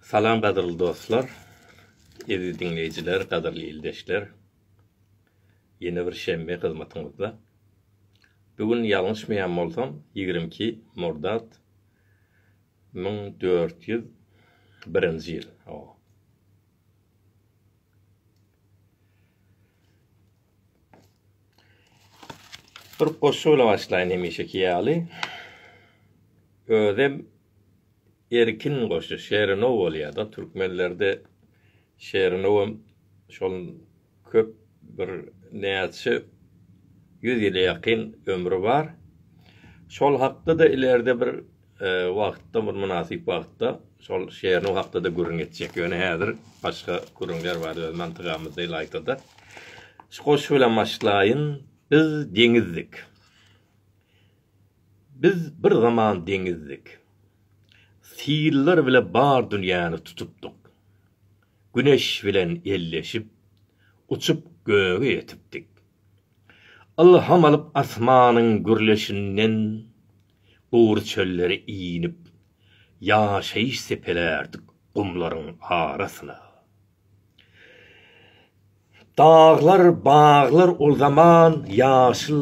Salam gadyrly dostlar, eziz diňleýjiler, gadyrly ildeşler. Ýene bir şenbe hyzmatyňyzda. Bu gün ýalňyşmaýan bolsam, ýigrimi iki murdat müň dört ýüz birinji ýyl. Bir goşgy bilen başlaýyn hemişeki ýaly. Özem erkin goşgy, şerinow bolýar-da. Türkmenlerde şerinowam şol köp bir näçe ýüz ýyla ýakyn ömri bar. Şol hakda-da ileride bir wagtda bir mynasyp wagtda şol şeriniň hakda-da gürrüň etjek. Ýöne häzir başga gürrüňler bar öz mantygamyzda ylaýta-da. Şu goşgy bilen başlaýyn. Biz deňizdik. Biz bir zaman deňizdik. Sillar bile bar dünýäni tutupdyk. Güneş bilen elleşip, uçup göge ýetipdik. Ylham alyp asmanyň gürleşinden, gury çöllere inip, ýaşaýyş sepelärdik gumlaryň arasyna. Daglar, baglar ol zaman ýaşyl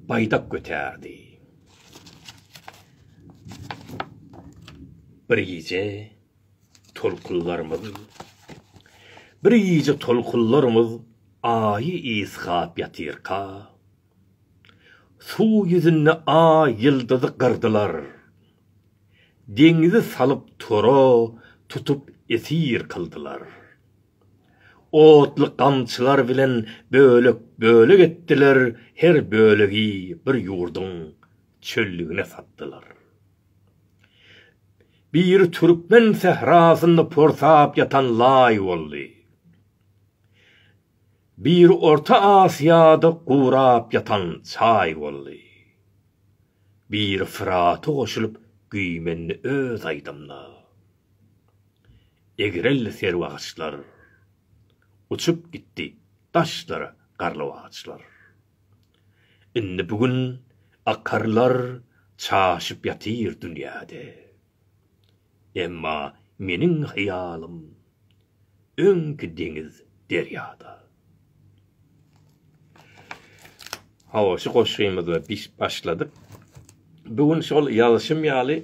baýdak götärdi. Bir gije tolkunlarymyz Bir gije tolkunlarymyz aýy ysgap ýatyrka, Suw ýüzünde Aý ýyldyzy gyrdylar. Deňizi salyp tora tutup esir kyldylar. Otly gamçylar bilen bölek-bölek etdiler, her bölegi bir ýurduň çöllügine satdylar. Biri türkmen sährasynda porsap ýatan laý boldy. Bir Orta Asiýada gurap ýatan çaý boldy. Bir Fyrata goşulyp güýmendi öz aýdymyna. Egreldi serwi agaçlar. Uçup gitdi daşlara garlawagçlar. Indi bu gün akarlar çaşyp ýatyr dünýäde. Emma meniň hyýalym. öňki deňiz derýada. Hawa şu goşgymyzy biz başladyk. Bu gün şol ýazyşym ýaly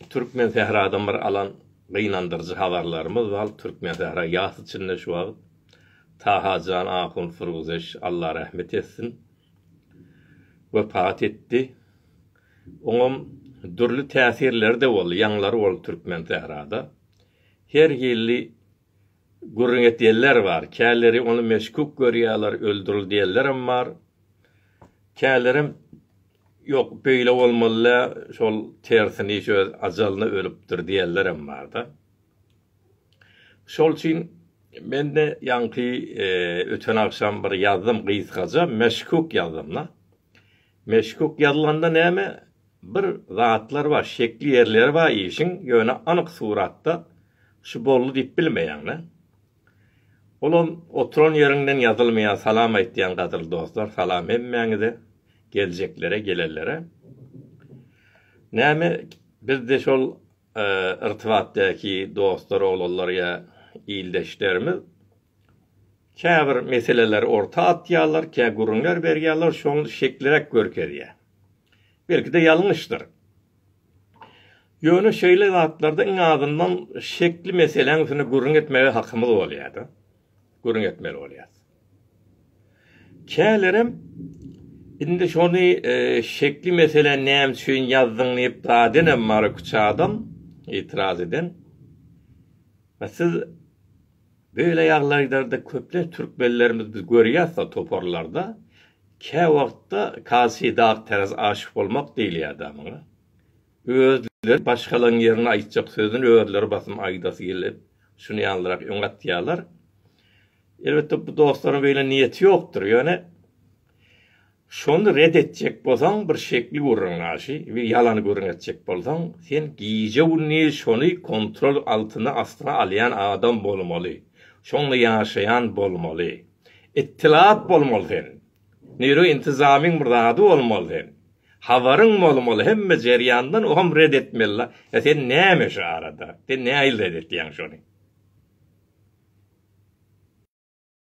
Türkmen sähradan bir alan gynandyryjy habarlarymyz bar. Türkmen sähra ýas içinde şu wagt. Tahajan ahun Surguzeş Allah rahmet etsin. Wepat etdi. Oňam dürli täsirleri-de boldy, ýaňlary boldy Türkmen sährada. Her hilli gürrüň edýänler bar. Käleri ony meşguk görýärler, öldürildi diýenlerem bar. Kälerem Ýok, beýle bolmaly-dä, şol tersini iş öz ajalyna ölüpdir diýenlerem bar-da. Şol üçin men-de ýaňky öten agşam bir ýazdym gysgaja, meşguk ýazdym-da. Meşguk ýazylanda näme Bir zatlar bar şekli ýerleri bar işiň ýöne anyk suratda şu boldy diýip bilmeýäňdä. Olam oturan ýeriňden ýazylmaýar salam aýtýan gadyrly dostlar salam hemmäňize geljeklere gelenlere. Näme bizde şol irtibatdäki dostlar oglanlar ýa ildeşlerimiz käbir meseleleri orta atýarlar kä gürrüňler berýärler şony şekliräk görkezýär. Belki-de ýalňyşdyr. Ýöne şeýle zatlarda iň azyndan şekli meseläň üstünde gürrüň etmäge hakymyz bolýar-da. Gürrüň etmeli bolýarys. Kälerem indi şony şekli meseläni näme üçin ýazdyň diýip dadenem bar iki-üç adam itiraz eden. Siz Beýle ýaglaýlarda köplenç türkmenlerimiz biz görýäsda toparlarda käwagtda kasidag teraz aşyk bolmak diýilýäda muňa. Özleri başgalaň ýerine aýtjak sözüni özleri basym aýdasy gelip şuny ýalyrak öňe atýalar. Elbetde bu dostlaryň beýle niýeti ýokdur ýöne Şony red etjek bolsaň bir şekli gürrüň naşi bir ýalany gürrüň etjek bolsaň sen gije gündiz şony kontrol altyna astyna alýan adam bolmaly şonda ýaşaýan bolmaly ittilat bolmaly sen neýro intizamyň bir zady bolmaly sen habaryň bolmaly hemme jerýandan oňam red etmeli la e sen näme şu arada sen nähili red etýäň şony.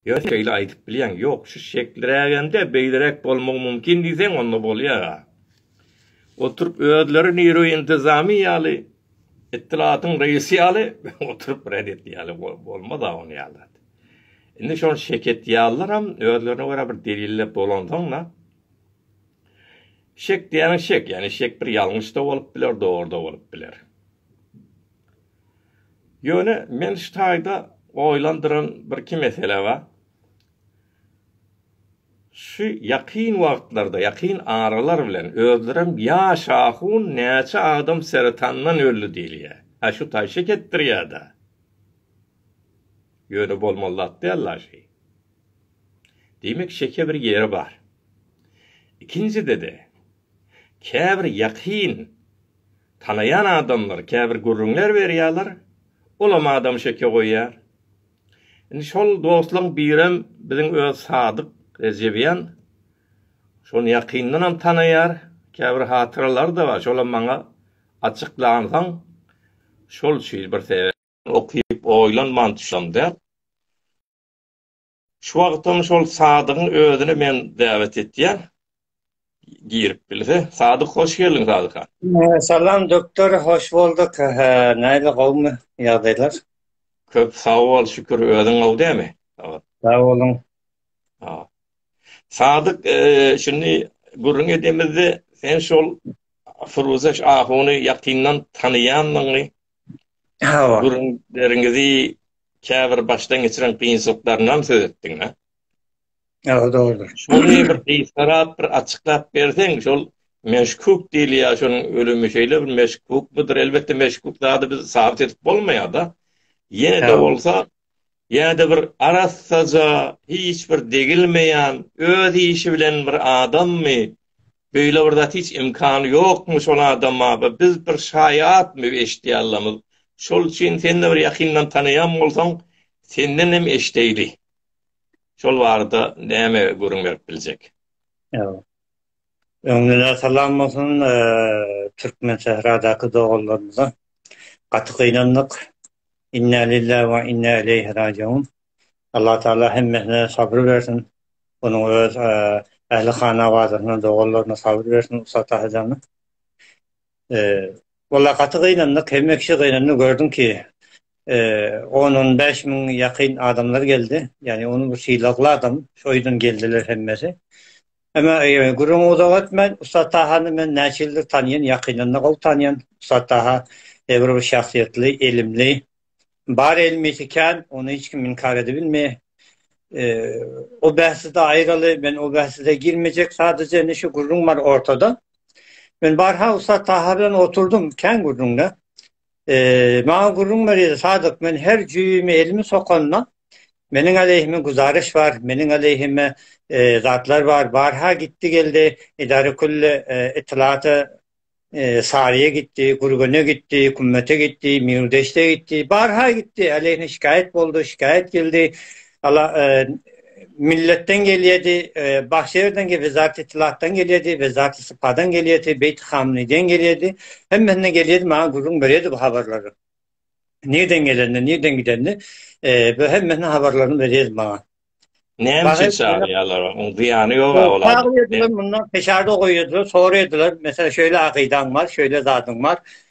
Ýöne sen şeýle aýdyp bilýäň, ýok, şu şeklirägem-de beýleräk bolmagy mümkin diýseň, onda bolýar-a. Oturyp özleri Nirw-i Intizami ýaly, Ittilatyň reýsi ýaly oturyp ret edýärler, bolmaz-a onuň ýaly zat. Indi şony şek edýärleram, özlerine görä bir delilläp dolansaň-da, şek diýýäniň şek, ýagny şek bir ýalňyş-da bolup biler, dogry-da bolup biler. Ýöne men şu taýda oýlandyran bir iki mesele bar. Şu ýakyn wagtlarda, ýakyn aralar bilen özlerem ýaş ahun näçe adam seretandan öldi diýilýär. A şu taý şek etdirýär-dä. Ýöne bolmaly zat däl daşy. Diýmek şeke bir ýeri bar. Ikinjide-de käbir ýakyn tanaýan adamlar käbir gürrüňler berýärler, olam adam şeke goýýar. Indi şol dostlaň birem biziň öz Sadyk Rejebýan. Şony ýakyndanam tanaýar, käbir hatyralary-da bar, şolam maňa açyklansaň, şol üçin bir sebäp. Okyp oýlanman düşsem däl. Şu wagtam şol Sadygyň özüni men däwet etýän. Girip bilse. Sadyk hoş geldiň Sadykan. Salam doktor hoş bolduk. Näle gowmy ýagdaýlar? Köp sag bol şükür özüň gowy dämi? Sag boluň. Ha. Sadyk şuny gürrüň edemizde sen şol Firuza ahuny ýakyndan tanaýandygyňy Hawa. Gürrüňleriňizi käbir başdan geçiren kynçylyklaryndan söz etdiňiz. Hawa, dogrudyr. Şuny bir gysgarap bir açyklap berseň, şol meşkuk diýilýär, şonuň ölümi şeýle bir meşkuk budur. Elbetde meşkuk zady biz sabyt edip bolmaýar-da. Ýene-de bolsa ýa-da bir arassaja, hiç bir degilmeýän, öz işi bilen bir adammy? Beýle bir zat hiç imkany ýokmy şol adama? Bi biz bir şaýatmy eşitdi allamyz. Şol üçin sen-de bir ýakyndan tanaýan bolsaň, senden hem eşideýli. Şol barada näme gürrüň berip biljek? Ýok. Öňden-ä salam bolsun Türkmensähradaky doganlarymyza. Gaty gynandyk. Inna lillahi we inna ileýhi rajiun. Allah Taala hemmesine sabyr bersin. Onuň öz ähli hanawadyna, doganlaryna sabyr bersin Ussat Atajana. Walla gaty gynandyk, hemme kişi gynandy, gördüň ki, on, on bäş müň ýakyn adamlar geldi, ýagny ony bu sylagly adam, şo ýüzden geldiler hemmesi. Emma gürrüňi uzak etmän, Ussat Tahany men näçe ýyldyr tanýan, ýakyndan-da gowy tanýan. Ussat Taha eýbir bir şahsyýetli, ilimli. Bar ilmisi kän, ony hiç kim inkär edibilmeýär. O bähsde aýraly, men o bähsde girmejek, sadaja indi şu gürrüň bar ortada. Men barha Ussat Taha bilen oturdym, kän gürrüňde. Maňa gürrüň berýärdi, Sadyk, men her jübime elimi sokanda, meniň aleýhime güzaraş bar, meniň aleýhime zatlar bar, barha gitdi-geldi, edarekülli ytylata Saryýa gitdi, Gürgene gitdi, Kümmete gitdi, Mýurdeşde gitdi, barha gitdi, aleýhine şikaýat boldy, şikaýat geldi, Ala e, milletden gelýärdi, e, Bahşerden gelýärdi, Zat Itilatdan gelýärdi, we Zat Sipadan gelýärdi, Beýt Hamniden gelýärdi. Hemmesine gelýärdi, maňa gürrüň berýärdi bu habarlary. Nirden gelenini, nirden gidenini, e, bu hemmesine habarlaryny berýärdi maňa. Näme üçin çagyrýarlar? Onuň zyýany ýok olar. Çagyrýarlar, mundan peşarda goýýarlar, soraýarlar. Mesela şöyle akydaň bar, şöyle zadyň bar.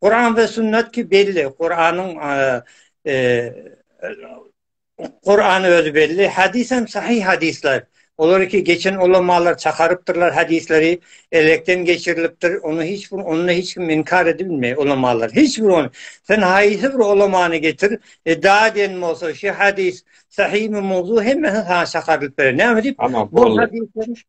Kur'an ve sünnet ki belli. Kur'an'ın e, Kur'an özü belli. Hadis hem sahih hadisler. Olar ki geçen ulamalar çakaryptırlar hadisleri elekten geçirilipdir. Onu hiç bir onunla hiç kim inkar edilmey ulamalar. Hiç bir on. Sen haysi bir ulamanı getir. E daha den olsa şu hadis sahih mi mevzu hem sana çakarylyp berer. Ne mi dip? Tamam. Bu hadisler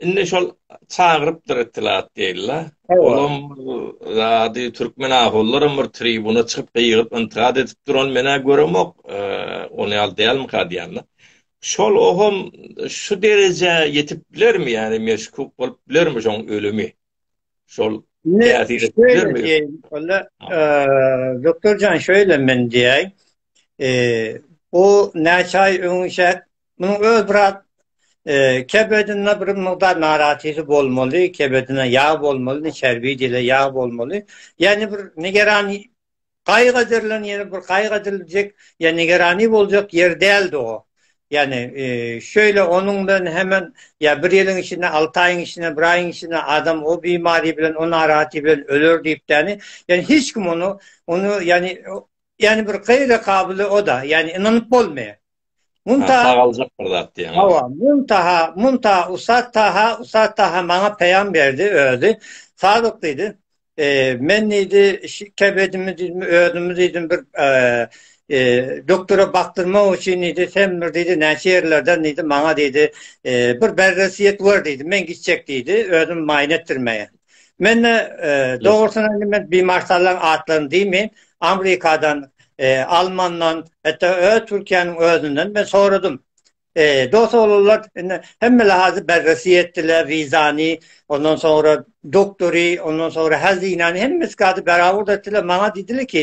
Indi şol çagyrypdyr itilat diýildi. Olam zady türkmen ahullaram bir tribuna çykyp gygyryp intikat edip duran menä göremok. Ony al diýälim ka diýende. Şol ohum şu derejä ýetip bilermi ýa meşkuk bolup bilermi şoň ölümi? Şol täsir edip bilermi? Onda doktorjan şeýle men diýäý. Eee o näçe aý öňçäk Munuň öz biraz kebedinde bir mukdar narahatylygy bolmaly, kebedine ýag bolmaly, çerbi dile ýag bolmaly. Ýani bir nigeran gaýyk ederilen ýeri bir gaýyk ediljek, ýani nigerani boljak ýer däldi o. Ýani şeýle onuň bilen hemen ýa bir ýylyň içinde, alty aýyň içinde, bir aýyň içinde adam o bimary bilen, o narahaty bilen öler diýip däni. Ýani hiç kim ony, ony ýani, ýani bir gaýra kabyly o-da, ýani ynanyp bolmaýar. Munta sagaljak bir zat diýen. Hawa, munta, munta Usat Taha, Usat Taha maňa peýam berdi özi. Sadyk diýdi. E, men diýdi, kebedimi diýdim, özümi diýdim bir e, e, doktora bakdyrmak üçin diýdi, sen bir diýdi, näçe ýerlerden diýdi, maňa diýdi, e, bir berresiýet wer diýdi, men gitjek diýdi, özüm maýyn etdirmeye. Men de dogrusyna men bimarsallaryň atlaryny diýmeýin, Amerikadan, Almandan, hatda öz Türkiýäniň özünden men soradym. Dost boldular, indi hemme lahazy bergisi etdiler, wizany, ondan soňra doktory, ondan soňra hezinäni, hemme zady beraber etdiler. Maňa diýdiler ki,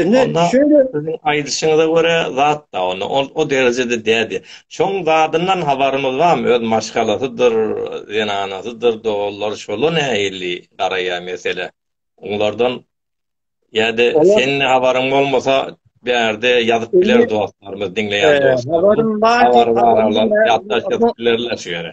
Indi şeýle siziň aýdyşyňyza görä zat da onda o, o derejede dädi. Şoň zadyndan habarymyz barmy? Öz maşgalasydyr, zenanasydyr, doganlar şola nähili garaýar mesele? Oňlardan ýa-da sen habaryň bolmasa bärde ýazyp biler dostlarymyz, diňleýän dostlarymyz. Habarym bar, habarym bar. Ýatdaş ýazyp bilerler şu ýere.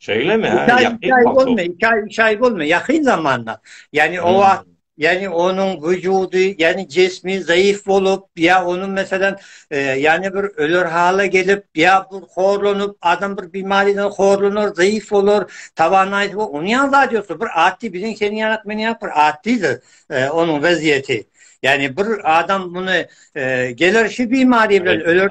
Şeýlemi? Hä, ýakyn bolma. Iki aý, iki aý bolma. Ýakyn zamanda. Ýani o wagt, ýani onuň wujudy, ýani jismi zaýyf bolup, ýa onuň meselem, ýani bir öler hala gelip, ýa bir horlanyp, adam bir bimariden horlanar, zaýyf bolar, tawanaýsy we onuň ýaly zat ýok. Bir atdy biziň seniň ýaly meniň ýaly bir atdydy onuň weziýeti. Ýani bir adam muny geler şu bimari bilen öler.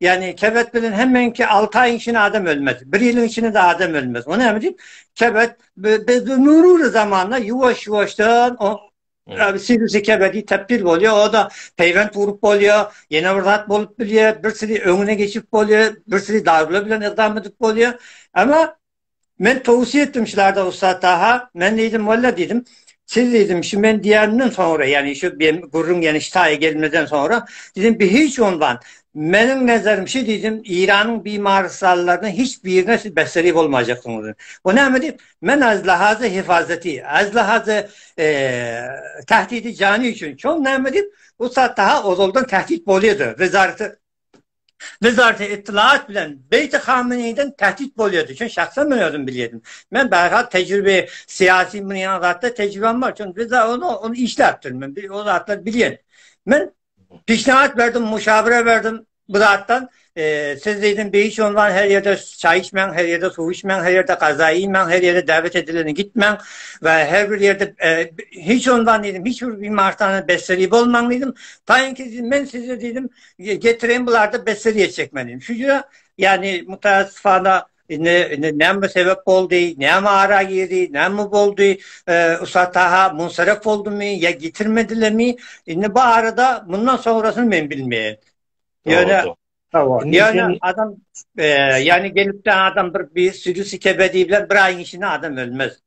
Yani kebet bilen hemmeňki 6 aýyň içinde adam ölmez. 1 ýylyň içinde de adam ölmez. Ony näme diýip? Kebet biz nurur zamanda ýuwaş-ýuwaşdan o Sirisi kebedi tepdir bolýar, o da peýwent urup bolýar, ýene bir zat bolup bilýär, bir siri öňüne geçip bolýar, bir siri darular bilen ykdam edip bolýar. Emma Men towsiýe etdim şularda ussat Taha. Men diýdim, walla diýdim, siz diýdim, şu men diýenimden soňra, ýagny şu beýim gürrüň ýene şitaýa gelmeden soňra, diýdim, bi hiç onwan, meniň nezerim şu diýdim, Eýranyň bimarysalarynyň hiç birine siz besseri bolmajakdygyňyz. Bu näme diýip, men az lahazy hifazeti, az lahazy eee, tahdidi jani üçin, şol näme diýip, ussat Taha ozaldan tahdit bolýady, wezareti Wezareti Ytlaat bilen Beýti Hameneýden tähtit bolýardy. Şuny şahsan men özüm bilýärdim. Men bärhak tejribe, syýasy, muny ýaly zatda tejribem bar. Şuny biz ony işläpdir. Men o zatlary bilýän. Men peşnahat berdim, muşawere berdim bu zatdan. Siz diýdim, beýik ünwan her ýerde çaý içmäň, her ýerde suw içmäň, her ýerde gaza iýmäň, her ýerde däwet edilende gitmäň we her bir ýerde hiç ünwan diýdim, hiç bir bimarhana besseri bolmaň diýdim. Taýynki men size diýdim, Getiren bularda beseriye çekmenin. Şu ýa yani mutasifana ne ne näme sebep boldy, näme ara girdi, näme boldy, e, usataha munsaref boldumy ya getirmedilemi? Indi bu arada bundan sonrasını men bilmeýän. Ýöne Ýöne adam e, yani gelip de adam bir bir sürü sikebedi bilen bir aýyň içinde adam ölmez.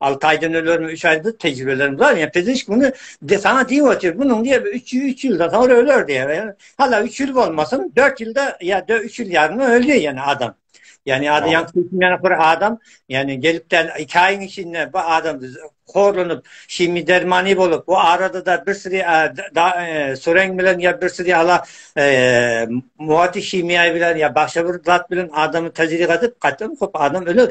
6 aýdan ölerim, 3 aýda tejribelerim bar. Ýa pizişk muny desana diýip otyr. Munyň diýe 3 3 ýylda soňra öler diýe. Hala 3 ýyl bolmasyn, 4 ýylda ýa 3 ýyl ýaryň ölýär ýene adam. Ýani ady ýa kimden bir adam, ýani gelip de 2 aýyň içinde bu adam horlunyp, şimi dermany bolup, bu arada da bir sürü e, sureng bilen ýa bir sürü hala e, muwati şimiýa bilen ýa başga bir zat bilen adamy tejribe edip, gaýtam köp adam öler.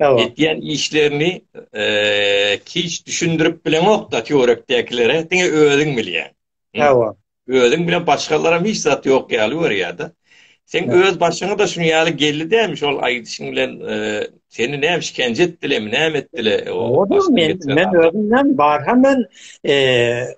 Etýän işlerini hiç düşündirip bileňok-da töwerekdäkilere, diňe özüň bilýäň. Hawa. Özüň bilen başgalaram hiç zat ýok ýaly görýär-de. Sen öz başyňa da şuny ýaly geldi dämi şol aýdyşyň bilen seni näme işkence etdilermi, näme etdiler? Men özümden barha men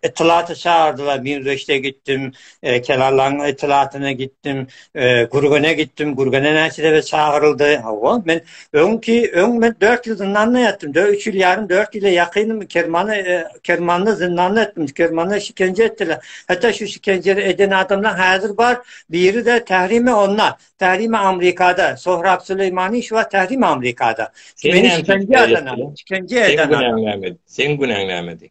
etlata çağırdylar, Mingreşde gitdim, e, Kelallaň itlatyna gitdim, e, Gürgene gitdim, Gürgene näçede çagyryldy. Hawa, men öňki öň men 4 ýyl zyndanda ýatdym. 3 ýyl ýarym, 4 ýyla ýakynmy Kermana, e, Kermanda zyndanda ýatdym. Kermanda şikence etdiler. Hatda şu şikenje eden adamlar häzir bar. Biri de Tährimi onda, Tährimi Amerikada, Sohrab Süleýmani şu wagt Tährimi Amerikada. Meni şikence eden, şikence eden. Sen günäňlämedi. Sen günäňlämedi.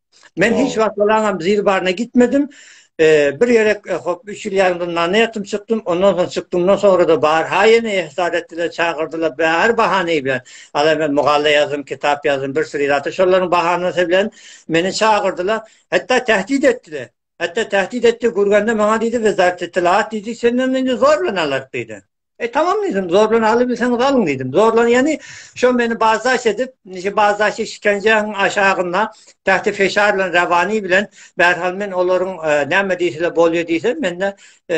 Men hiç wagt bolaňam zil baryna gitmedim. E, bir ýere e, hop 3 ýyl ýarymdan nana ýatym çykdym. Ondan soň çykdymdan sonra da bar ha ýene ihsar etdiler, çagyrdylar bäri bahana bilen. Ala men mugalla ýazdym, kitap ýazdym, bir sürü zat şolaryň bahanasy bilen meni çagyrdylar. Hatda tähdit etdiler. Hatda tähdit etdi, gürgende maňa diýdi, biz zat etilat diýdi, senden indi zorlan alarys diýdi. E tamam diýdim, zorlan alybilseňiz alyň diýdim. Zorlan ýany şo meni bazdaş edip, nji bazdaşy şikenjeň aşagynda tähti feşar bilen rawani bilen bärhal men olaryň e, näme diýseler bolýar diýse, mende e,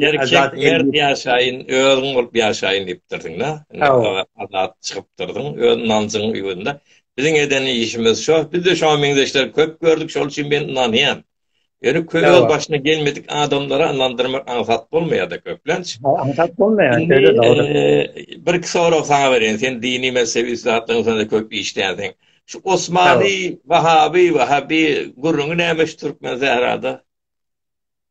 Erkek mert ýaşaýyn, özüň bolup ýaşaýyn diýipdirdiň da. Azat çykypdyrdyň, öz ynanjyň ugrunda. Biziň eden işimiz şo, biz-de şoňa meňzeşleri köp gördük, şol üçin men ynanýan. Ýöne köp öz başyna gelmedik adamlara ynandyrmak aňsat bolmaýar-da köplenç. Aňsat bolmaýar, şeýle dogry. Birki sorag saňa bereýin, sen dini mezhebi zatlaryň üstünde köp işleýänsiň. Şu Osmany, Wahaby, Wahabi gürrüňi näme şu Türkmen sährada?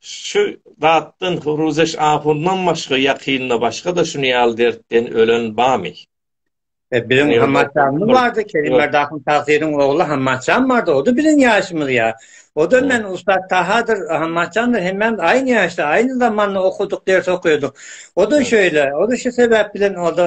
Şu zatdan Ruzeş ahundan başga ýakynda başga-da şuny ýaly dertden ölen bamy? E, biziň Hammaçamyz bardy, Kerimberdi ahun Tagsyryň ogly Hammaçam bardy, o-da biziň ýaşymyz ýa. O-da men ussat Tahadyr, Hammaçamdyr, hemmämiz aýny ýaşda, aýny zamanda okuduk, ders okaýardyk. O-da şeýle, o-da şu sebäp bilen o-da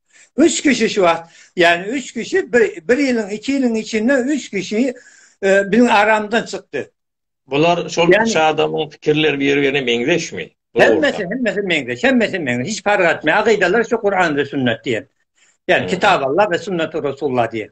Üç kişi şu wagt, yani üç kişi bir, bir ýylyň, iki ýylyň içinde üç kişi e, biziň aramdan çykdy. Bular şol yani, üç adamyň fikirleri bir-birine meňzeşmi? Hemmesi, hemmesi meňzeş, hemmesi meňzeş. Hiç fark etmeýär. Akydalar şu Kur'an ve sünnet diýen. Yani hmm. Kitap Allah ve sünnet Resulullah diýen.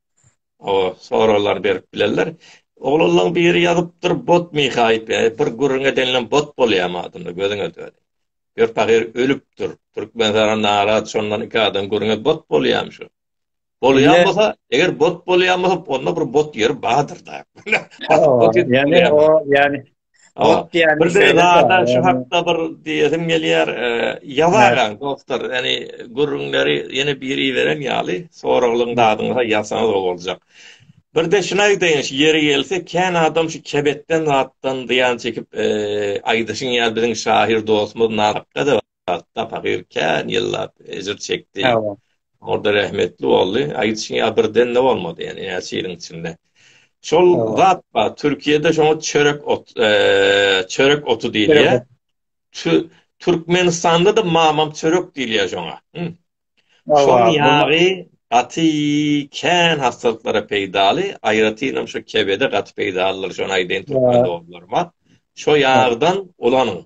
O soraglar berip bilerler. Oglanlaň biri ýazypdyr bot mihaýp ýa bir gürrüň edenlem bot bolýamy adynda gözüňe döni. Gör pahyr ölüpdir. Türkmen sara narat şondan iki adam gürrüňe bot bolýamy şu. Bolýan bolsa eger bot bolýan bolsa onda bir bot ýeri badyr da. Ýani o ýani Ot diýýän bir zada şu hakda bir diýesim gelýär. Ýazaga dostlar, ýani gürrüňleri ýene biri beren ýaly, soraglaryň dadyňyza ýazsaňyz gowy boljak. Birde şuny aýdaýyn, şu ýeri gelse, kän adam şu kebetden zatdan zyýan çekip aýdyşyn ýaly biziň şahyr dostumyz Nazakda-da Atda pagyr kän ýyllap ejir çekdi. Orda rahmetli boldy. Aýtşyň ýa birden de bolmady. Ýa näçe ýylyň içinde. Şol zat bar. Türkiýede şoňa çörek ot, çörek otu diýilýär. Türkmenistanda da mamam çörek diýilýär şoňa. Şoň ýagy gaty kän hassalyklara peýdaly. Aýratynam şu kebede gaty peýdalydyr. Şony aýdaýyn türkmen doganlaryma. Şo ýagdan ulanyň.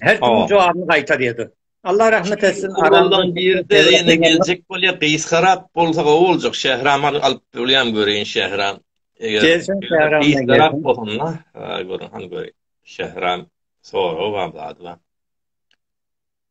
Her kim jogabini gaýtar ýedi. Allah rahmet etsin. Aramdan birde ýene geljek bolýa. Gysgarap bolsa gowy boljak. Şähram alyp bolýam göreýin Şähram. Gelsin Şähram. Gysgarap bolanda göreýin. Şähram soragy bar zady bar.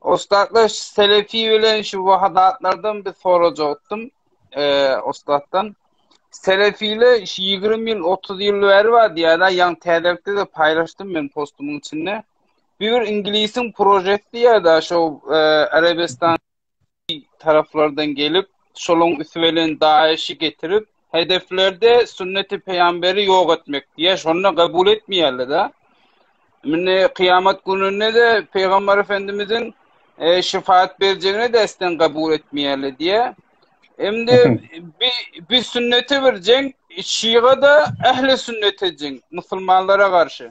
Ussatlar Selefi bilen şu wahadatlardan bir sorajakdym. Eee ussatdan Selefile 20 ýyl 30 ýyl bäri bar diýýärler, ýaňy täzelikde de paýlaşdym men postumyň içinde. Bir inglisiň prožekti ýa-da şo Arabistan taraplardan gelip, şolaň üsti bilen DAEŞ-i getirip, hedeflerde sünneti pygamberi ýok etmek diýýär, şonda kabul etmeýärler-de. Mine, kyýamat gününde-de pygamber efendimiziň şefaat berjegini desden kabul etmeýärler diýýär. Emdi bi sünnete bir jeň, şiga-da ähli sünnete jeň, musulmanlara garşy.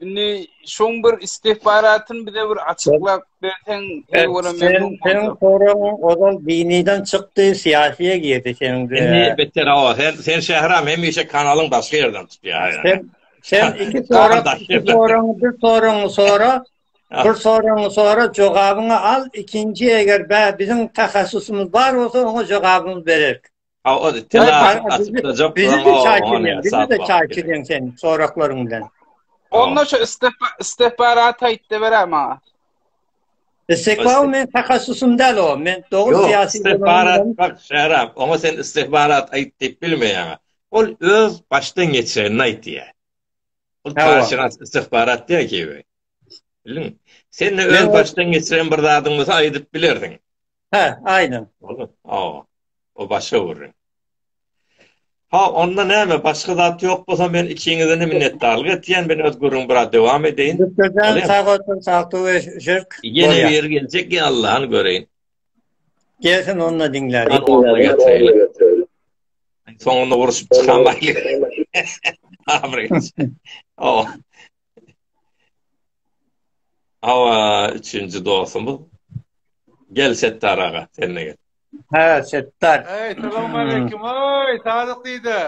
Indi şoň bir istihbaratyn bize bir açyklap berseň, her bir memnun boldum. Sen soraň, ozal diniden çykdy, siyasiye girdi sen. Indi beter awa, sen sen şähram hemişe kanalyň başga ýerden tutýar. Sen sen iki sorak, iki soraň, bir soraň sora, bir soraň sora jogabyňy al, ikinji eger bä biziň tahassusymyz bar bolsa, oňa jogabyňy bererik. Aw az itdi nasip açyklajak bilen oňa sap bak. Çay içen sen soraklaryň bilen. Onda şu istifarat aýtdy berer maňa. Istikbal men takassusum däl o. Men dogry syýasy istifarat bak şerap. Oňa sen istifarat aýt diýip bilmeýäň. Ol öz başdan geçirenini aýtýar. Ol taşyrat istifarat diýär ki. Bildiň? Sen de öz başdan geçiren bir zadyň bolsa aýdyp bilerdiň. Hä, aýdyň. Boldy. O. O başga gürrüň. Ha, onda näme, başga zat ýok bolsa, men ikiňizden-de minnetdarlyk etýän. Men öz gürrüňimi biraz dowam edeýin. Doktor jan, sag otur, saglyk we žirk. Ýene biri geljek, ýa Allahany göreýin. Gelsin, onda diňläliň. Soňunda uruşyp çykamaýlyk. Abrýt. O. Hawa, üçünji dostumyz. Gel Setdar aga, sen-de gel. Hä, Setdar. Eý, salamaleýkim, eý, Sadyk diýde.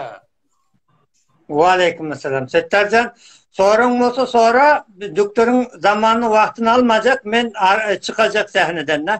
Waleýkim salam. Setdar jan, soraň bolsa sora, doktoryň zamanyny wagtyny almajak, men çykajak sähneden-de.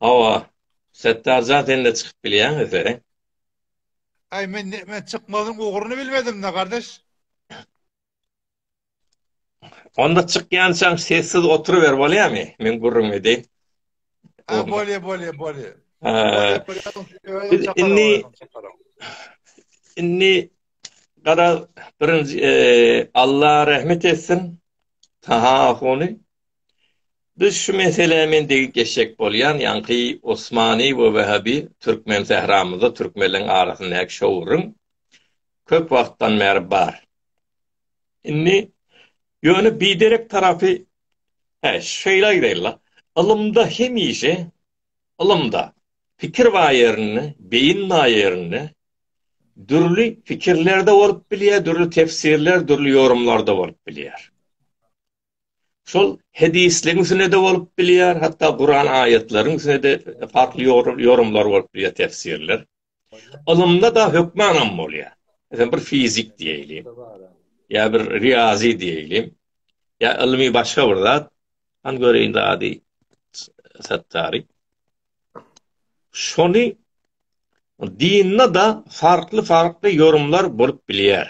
Hawa, Setdarjan sen-de çykyp bilýäň eseri. Aý men men çykmazyň ugruny bilmedimda gardaş. Onda çykýançaň sessiz oturyber bolýamy? Men gürrüň edeýin. Ha bolýa bolýa bolýa. Indi indi gara birinji Alla rahmet etsin. Taha Ahuny, Biz şu meselä men degip geçjek bolýan, ýaňky Osmani we Wähabi türkmen sähramyzda türkmenleň arasyndaky şowuryň köp wagtdan bäri bar. Indi ýöne biderek tarapy Hä, şeýle aýdaýyn-la, ylymda hemişe, ylymda, pikir bar ýerinde, beýin bar ýerinde, dürli fikirlerde bolup bilýär, dürli tefsirler, dürli ýorumlarda bolup bilýär. Şol hedisligiň üstünde de bolup bilýär, hatda Kuran aýatlaryň üstünde de farkly ýorumlar bolup bilýär, tefsirler. Ylymda da hökmanam bolýar. Mesela bir fizik diýeýin. Ýa bir riýazi diýeýin. Ýa ylmy başga bir zat. Han göreýin ady Sattary. Şony dynda-da farkly-farkly ýorumlar bolup bilýär.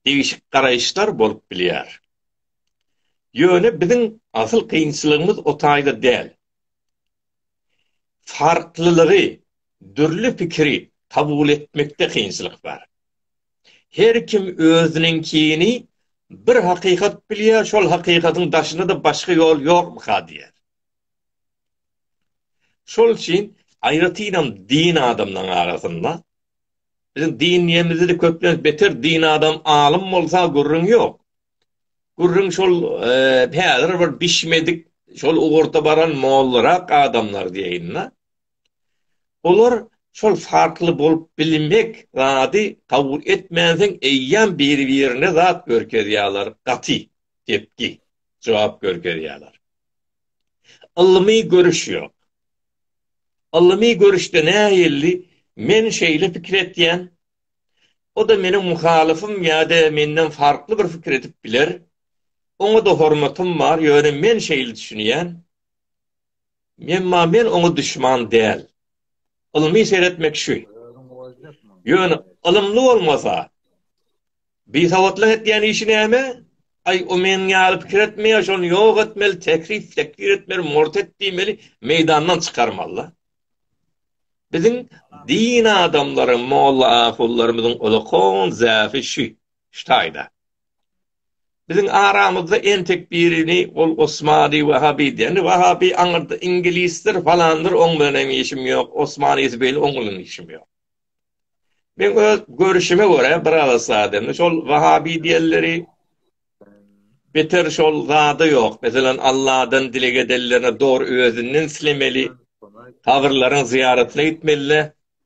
Degişik garaýyşlar bolup bilýär. Ýöne biziň asyl kynçylygymyz o taýda däl. Farklylygy, dürli pikiri kabul etmekde kynçylyk bar. Her kim özüniňkini bir hakykat bilýär, şol hakykatyň daşynda-da başga ýol ýokmyka diýýär. Şol üçin aýratynam din adamlaryň arasynda biziň din diýemizde-de köplenç beter din adam alym bolsa gürrüň ýok. Gürrüň şol häzir bir bişmedik şol ugurda baran mollarak adamlar diýeýin-de. Olar şol farkly bolup bilmek zady kabul etmänsoň eýýäm biri-birine zat görkezýärler, gaty, depgi, jogap görkezýärler. Ylmy görüş ýok. Ylmy görüşde nähilli men şeýle pikir etýän, o-da meniň muhalyfym ýa-da menden farkly bir pikir edip biler, oňa-da hormatym bar, ýöne men şeýle düşünýän, Emma men oňa duşman däl. Ylmy seretmek şu. Ýöne ylymly bolmasa, Bisawatlyk etýän işi näme? Aý, o meniň ýaly pikir etmeýär, şony ýok etmeli, tekzip, tekfir etmeli, murtet diýmeli, meýdandan çykarmaly-da. Biziň din adamlary, molla-ahunlarymyzyň ulakon zäfi şu, şu taýda. Biziň aramyzda entek birini ol Osmany Wahabi diýýärdi. Wahabi aňyrda iňgilisdir, falandyr, oň bilen hem işim ýok, Osman Isbeýli oň bilen işim ýok. Men öz görüşime görä bir agyz adamdy. Şol Wahabi diýenleri beter şol zada ýok. Meselem, Alladan dileg edenlerine dogry özünden islemeli, kabyrlaryň zyýaratyna gitmeli-de.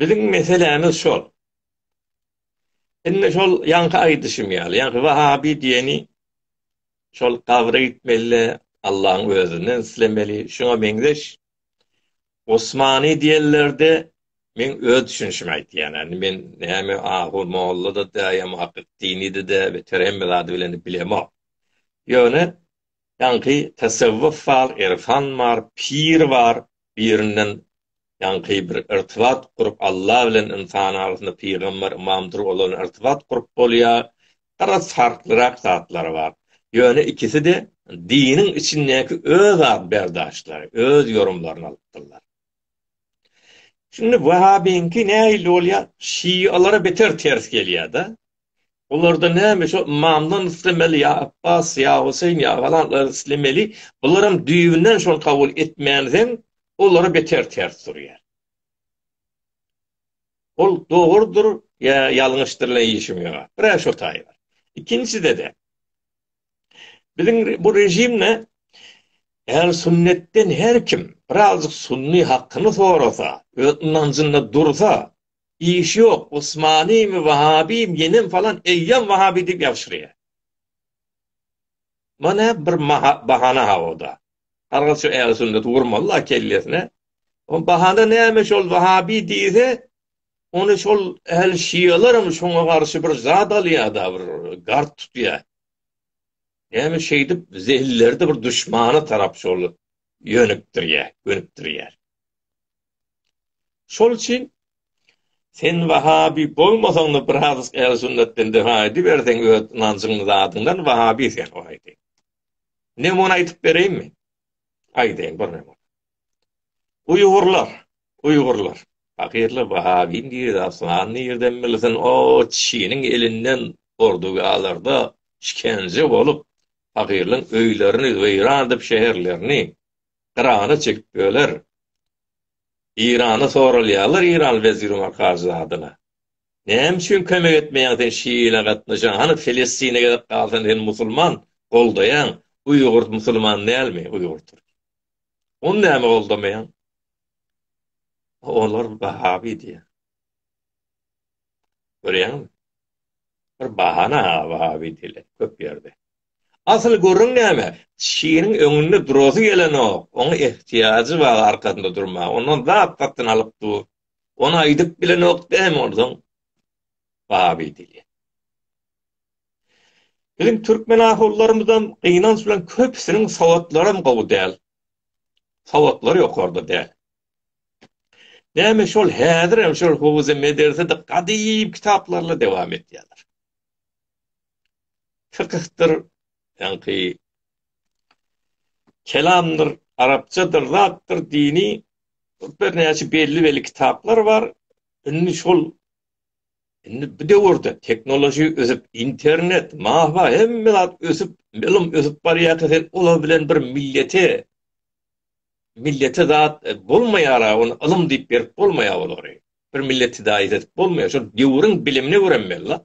Biziň meselämiz şol. Indi şol ýaňky aýdyşym ýaly, ýaňky wahabi diýeni şol gabra gitmeli-de, Allaň özünden islemeli, şuňa meňzeş. Osmany diýenlerde, men öz düşünişimi aýdýan, indi men näme ahu molla-da däl, muhakkyk dini-de däl, beter hemme zady bilen bilemok. Ýöne ýaňky tasawwuf bar, irfan bar, pir bar, birinden ýaňky bir irtibat gurup Alla bilen ynsan arasynda pygamber ymamdyr olar irtibat gurup bolýar biraz farklyrak zatlary bar ýöne ikiside diniň içindäki öz ad berdaşlary öz ýorumlaryny alypdyrlar. Şindi wahabiňki nähili bolýar şialara beter ters gelýärda Bularda näme şo ymamdan islemeli ýa Apbas ýa Huseýn ýa galanlardan islemeli. Bularam düýbünden şony kabul etmänizem olara beter ters durýar. Ol dogrudyr ýa ýalňyşdyr bilen işim ýok. Bir-ä şo taýy bar. Ikinjide-de biziň bu režimde ähli sünnetden her kim birazajyk sunny hakyny sorasa, öz ynanjynda dursa, Iş ýok, Usmanymy, Wahabymy, ýenem falan, eýýäm Wahaby diýip ýabşyrýar. Munä bir bahana haoda. Her gyz şu ähli sünneti urmaly-la kellesine. O bahana näme şol Wahaby diýse, ony şol ähli şialaram şoňa garşy bir zat alýar-da, bir gard tutýar. Näme şeýdip zehinleri-de bir duşmana tarap şol ýönükdirýär, gönükdirýär. Şol üçin sen wahabi bolmasaň-da bir hadysk ähli sünnetden defa ediberseň öz ynanjyň zadyňdan wahabi sen o aýdaýyn. Ne muny aýdyp bereýinmi? Aýdaýyn bir näme. Uýgurlar, uýgurlar. Fakirler wahabi nirde aslan nirden bilsin o çiniň elinden ordugalarda şikence bolup fakirliň öýlerini weýran edip şeherlerini Yrana çekip böler. Yrana soralýarlar Yrany weziri Markazy adyna. Näme üçin kömek etmeýäň sen şiile gatnaşan hany Filistine gezip galsan sen musulman goldaýaň uýgur musulman dälmi uýgur türk. Ony näme goldamaýaň. Olar bahabi diýýär. Görýäňmi? Bir bahana bahabi diýilýär köp ýerde. Asyl gürrüň näme? Şirin öňünde durasy gelenok, oňa ehtiýajy bar arkasynda durmaga, ondan zat satyn alyp dur. Ony aýdyp bilenok däýme onsoň baby dili. Biziň türkmen ahulylarymyzam gynanç bilen köpüsiniň sowatlaram gowy däl. Sowatlary ýokarda däl. Näme şol häzirem şol howuz-i medersede gadymy kitaplarla dowam etýärler. fykyhdyr, ýaňky kelamdyr, arapçadyr, zatdyr, dini birnäçe belli-belli kitaplar bar. Indi şol indi bu döwürde tehnologiýa ösüp, internet, mahwa hemme zat ösüp, ylym ösüp barýarka sen olar bilen bir millete, millete zat bolmaýar-a, ony ylym diýip berip bolmaýar olary. Bir milleti daýyş edip bolmaýar. Şol döwrüň bilimine göremeli-la.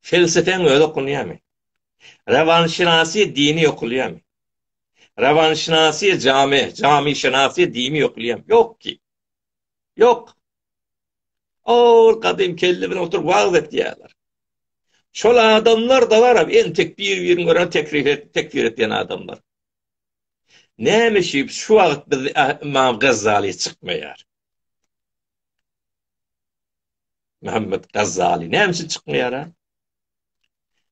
Felsepeň özi okunýarmy? Rawanşynasy dini okulýarmy? Rawanşynasy jamy, jamyşynasy dimi okulýarmy? Ýok ki. Ýok. Ol gadym kelle bilen oturyp wagyz etýärler. Şol adamlar da bar, entek bir-birini görüp tekfir et, tekfir etýän adamlar. Näme üçin şu wagt biz Imam Gazzali çykmaýar? Muhammet Gazzaly näme üçin çykmaýar?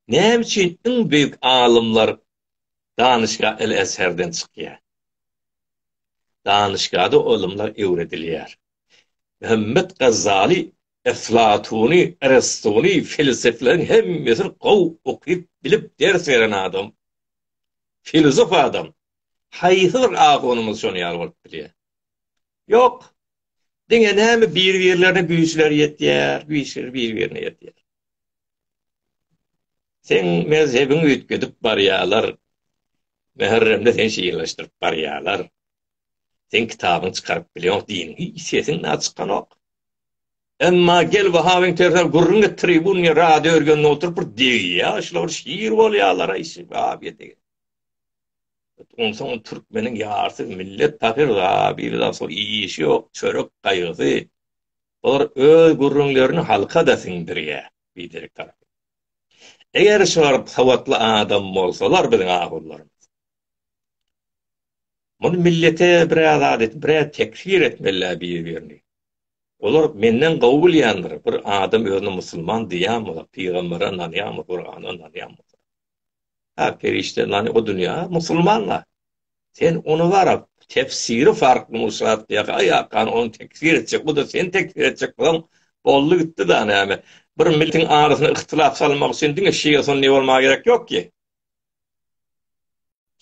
Näme üçin iň beýik alymlar Danışga el Azherden çykýar? Danışgada olumlar öwredilýär. Muhammet Gazzaly Eflatuny, Aristuny, felsefelerin hemmesini gow okyp, bilip ders beren adam. Filozof adam. Haýsydyr ahunymyz şony ýaly bolup bilýär. Ýok. Diňe näme bir-birlerine güýçleri ýetýär, güýçleri bir-birine ýetýär. Sen mezhebiň üýtgedip barýarlar. Mähremde sen şeýleşdirip barýarlar. Sen kitabyň çykaryp bilýär, diniň sesiň na çykanok. Emma gel Wahabyň tersen gürrüň et tribun ýa radio örgende oturyp bir degýär, şular şir bolýarlar aýşy, wah ýedi. Onsoň türkmeniň ýarsy millet pahyr zabiri-da sol işi ýok, çörek gaýgysy. Bular öz gürrüňlerini halka-da siňdirýär, biderek tarapyn. Eger şular sowatly adam bolsalar biziň ahunlarymyz. Muny millete biraz zat et, biraz tekfir etmeli-ä bir-birini. Olar menden gowy bilýändir, bir adam özüne musulman diýýänmi, pygambere ynanýanmy, Gurana ynanýanmy? Ha perişde nani o dünýä musulmanla. Sen ony garap, tefsiri farkly muşat diýä. Aý akan ony tekfir etjek, bu da seni tekfir etjek bolan boldy gitdi da näme. Bir milletiň arasyna yhtylap salmak üçin diňe şia sunni bolmaga gerek ýok ki.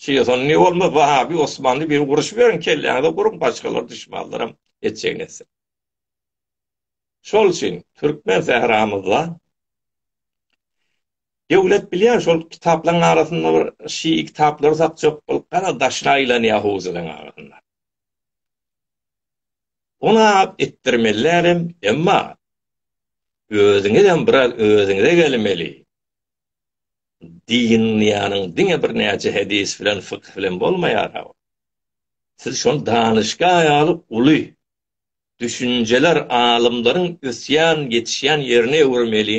Şia sunni bolma, wahabi, osmanly bir uruşyp ýöriň kelläňize guruň başgalar düşmanlaram etjegini etsin. Şol üçin türkmen sähramyzda Döwlet bilýän şol kitaplaryň arasynda bir şii kitaplary satjak bolup gara daşyna aýlanýar howzalaryň arasynda. Ony alyp itdirmelärem, emma özüňizem biraz özüňize gelmeli. Din ýanyň diňe birnäçe hedis bilen, fykyh bilen bolmaýar. Siz şony danyşga ýaly uly düşünjeler alymlaryň ösýän, ýetişýän ýerine öwürmeli.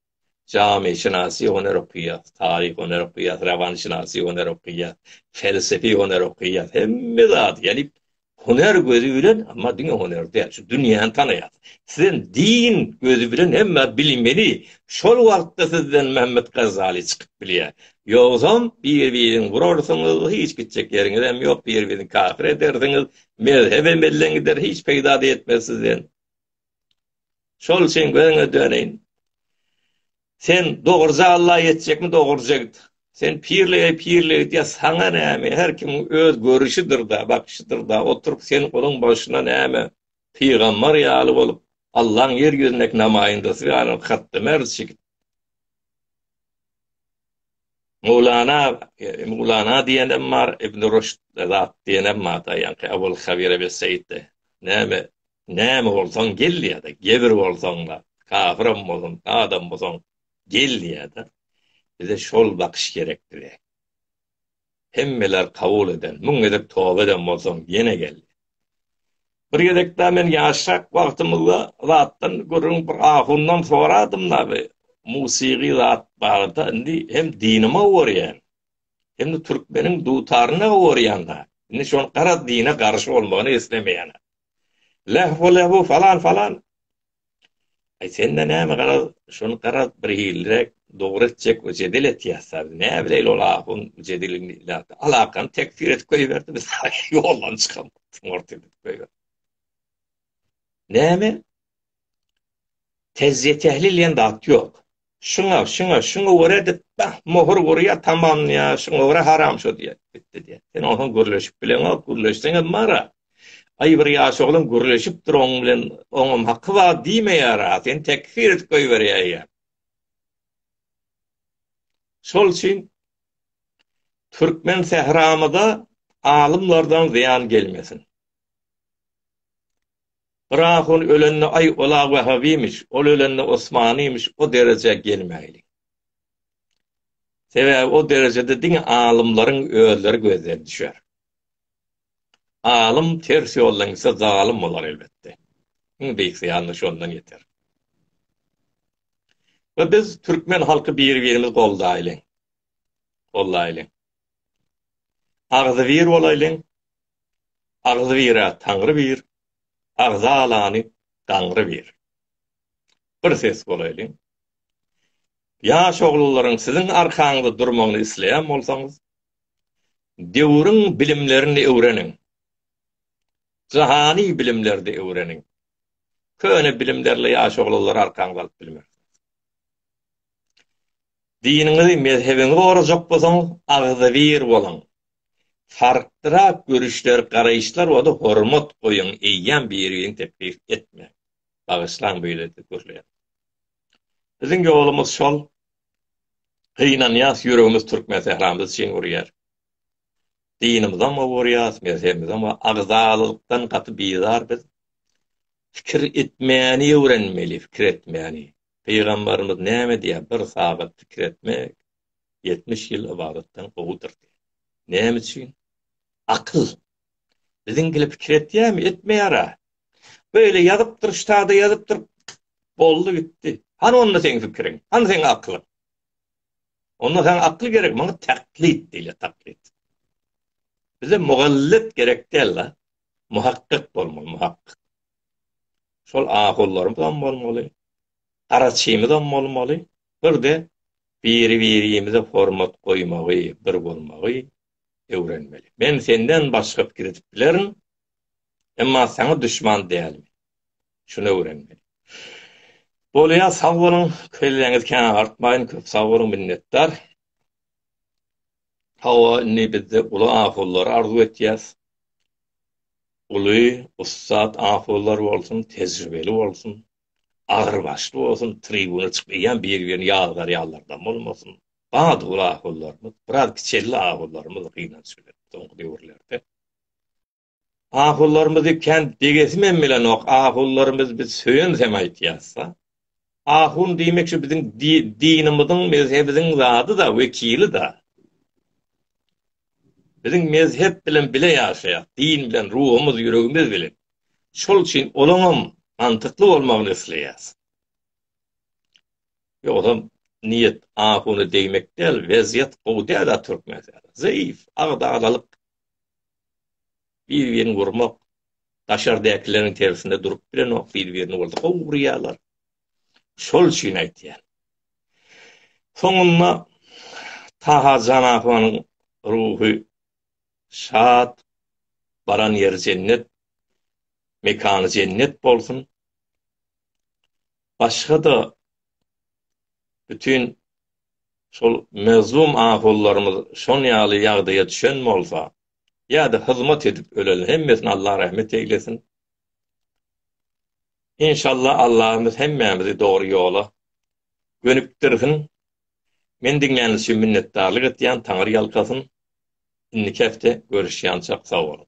Janyşynasy hünär okaýas, taryh hünär okaýas, rawanşynasy hünär okaýas, pelsepi hünär okaýas, hemme zady gelip hünär gözi bilen, amma diňe hünär däl, şu dünýäni tanaýas. Sizem din gözi bilen hemmä bilmeli, şol wagtda sizden Mehmet Gazali çykyp bilýär. Ýogsam, bir-biriňi urarsyňyz, hiç gitjek ýeriňizem ýok, bir-biriňi kafir edersiňiz, mezhebem elden gider, hiç peýda-da ýetmez sizden. Şol üçin gözüňe döneýin. Sen dogruja Alla ýetjekmi dogruja git. Sen pirlige pirlige git ýa saňa näme her kim öz görüşidir da bakşydyr da oturyp sen onuň başyna näme pygambar ýaly bolup Allaň ýer ýüzündäki namaýyndasy ýaly hatda merçi git. Mowlana, e, Mowlana diýenem bar, Ibn Rüşd zat diýenem bar, ýa-da Abul Habir Ebel Seýitde. Näme Näme bolsaň gel diýýärdi. Gebir bolsaň-da, kafiram bolsaň, adam bolsaň, gel diýýärdi. Bize şol bakyş gerek bize. Hemmeler kabul eden, müň gezek toba eden bolsaň, ýene gel. Bir gezek-de men ýaşrak wagtymyzda zatdan gürrüň bir ahundan soradym-da bi musygy zat barada, indi hem dinime gorýän, hem-de türkmeniň dutaryna gorýan-da. Indi şol gara dine garşy bolmagyny islemeýän. Lähw-lähw bu falan-falan. Aý sende näme garaz, şony garaz bir hilliräk dogry etjek we jedel etýäs tabi. Näbileýli ol ahun jedeliň ilatda alakany tekfir edip goýberdi biz ýoldan çykamok. Murt edip goýberdi. Näme? Tejriýe tehlil diýen zat ýok. Şuňa, şuňa, şuňa görä edip, bah, möhür urýar, tamamlaýar, şuňa görä haram şu diýýär, bitdi diýýär. Sen onsoň gürleşip bileňok, gürleşseňem mara. Aý, bir ýaş oglan gürleşipdir oň bilen, oňam haky bar diýmeýär-ä, seni tekfir edip goýberýär. Şol üçin türkmen sähramyza alymlardan zyýan gelmesin. Bir ahun ölende aý ol agy Wehhabymyş, ol ölende Osmanymyş o derejä gelmäýliň. Sebäbi o derejede diňe alymlaryň özleri gözden düşer. Alym ters ýoldan gitse zalym bolar elbetde. Iň beýik zyýan-da şondan ýeter. We biz türkmen halky bir-birimizi goldaýlyň. Goldaýlyň. Agzybir bolaýlyň, Agzybirä Taňry bir, agza alany gaňry bir. Bir ses bolaýlyň. Ýaş oglanlaryň siziň arkaňyzda durmagyny isleýän bolsaňyz, döwrüň bilimlerini öwreniň. Jahany bilimlerde öwreniň. Köne bilimlerle ýaş oglanlary arkaňyza alyp bilmersiňiz. Diniňizi, mezhebiňizi gorajak bolsaňyz, agzybir boluň. Farklyrak görüşler, garaýyşlar bolsa hormat goýuň, eýýäm biri-birini teklip etmäň. Bagyşlaň beýlede gürleýän. Biziň ýolumyz şol. Gynanýas, ýüregimiz Türkmensähramyz üçin urýar. Dinimizem owurýas, mezhebimizem we agzalykdan gaty bizar biz. Pikir etmäni öwrenmeli, pikir etmäni. Pygambarymyz näme diýýär, Bir sagat pikir etmek, ýetmiş ýyl ybadatdan gowudyr diýýär. Näme üçin? Akyl. Biziň gili pikir etýärmi? Etmeýär-ä. Beýle ýazypdyr, ştada ýazypdyr, boldy gitdi. Hany onda seň pikiriň? Hany seň akylyň? Onda saňa akyl gerek, maňa taklit diýilýär, taklit. Bize mugallyt gerek däl-la. Muhakkyk bolmaly, muhakkyk. Şol ahunlarymyzam bolmaly, garaçymyzam bolmaly, bir-de biri-birimize hormat goýmagy, bir bolmagy öwrenmeli. Men senden başga pikir edip bilerin, emma saňa duşman dälmi? Şuny öwrenmeli. Bolýa, sag boluň, kelläňizi kän agartmaýyn, köp sag boluň, minnetdar. Hawa indi bizde uly ahunlary arzuw etýäs. Uly, ussat ahunlar bolsun, tejribeli bolsun, agyrbaşly bolsun, tribuna çykyp eýýäm belgilerini ýazgarýanlardan bolmasyn. Bady uly ahunlarymyz, biraz kiçeldi ahunlarymyz gynanç bilen soňky döwürlerde. Ahulylarymyzy kän degesimem bilenok, ahulylarymyz biz söýensem aýtýasda. Ahun diýmek şu biziň dinimiziň, mezhebimiziň zadyda, wekilida. Biziň mezhep bilen bile ýaşaýas, din bilen, ruhumyz, ýüregimiz bilen. Şol üçin olaňam mantykly bolmagyny isleýäs. Ýogsa niýet ahuna degmek däl, wezýet gowy däl-ä türkmen. Zeýif, agdalalyk. Bir-birini urmak, daşardakylaryň tersine durup bilenok, bir-birini bolsa gowy urýarlar. Şol üçin aýtýan. Soňunda Taha Janahanyň ruhy şat, baran ýeri jennet, mekany jennet bolsun. Başga-da bütin şol mazlum ahollarymyz şon ýaly ýagdaýa düşen bolsa, ýa-da hyzmat edip ölen, hemmesine Allah rahmet eýlesin. Inşallah Allahymyz hemmämizi dogry ýola gönükdirsin. Meni diňläniz üçin minnetdarlyk etýän, Taňyr ýalkasyn. Indiki hepde görüşýançak sag boluň.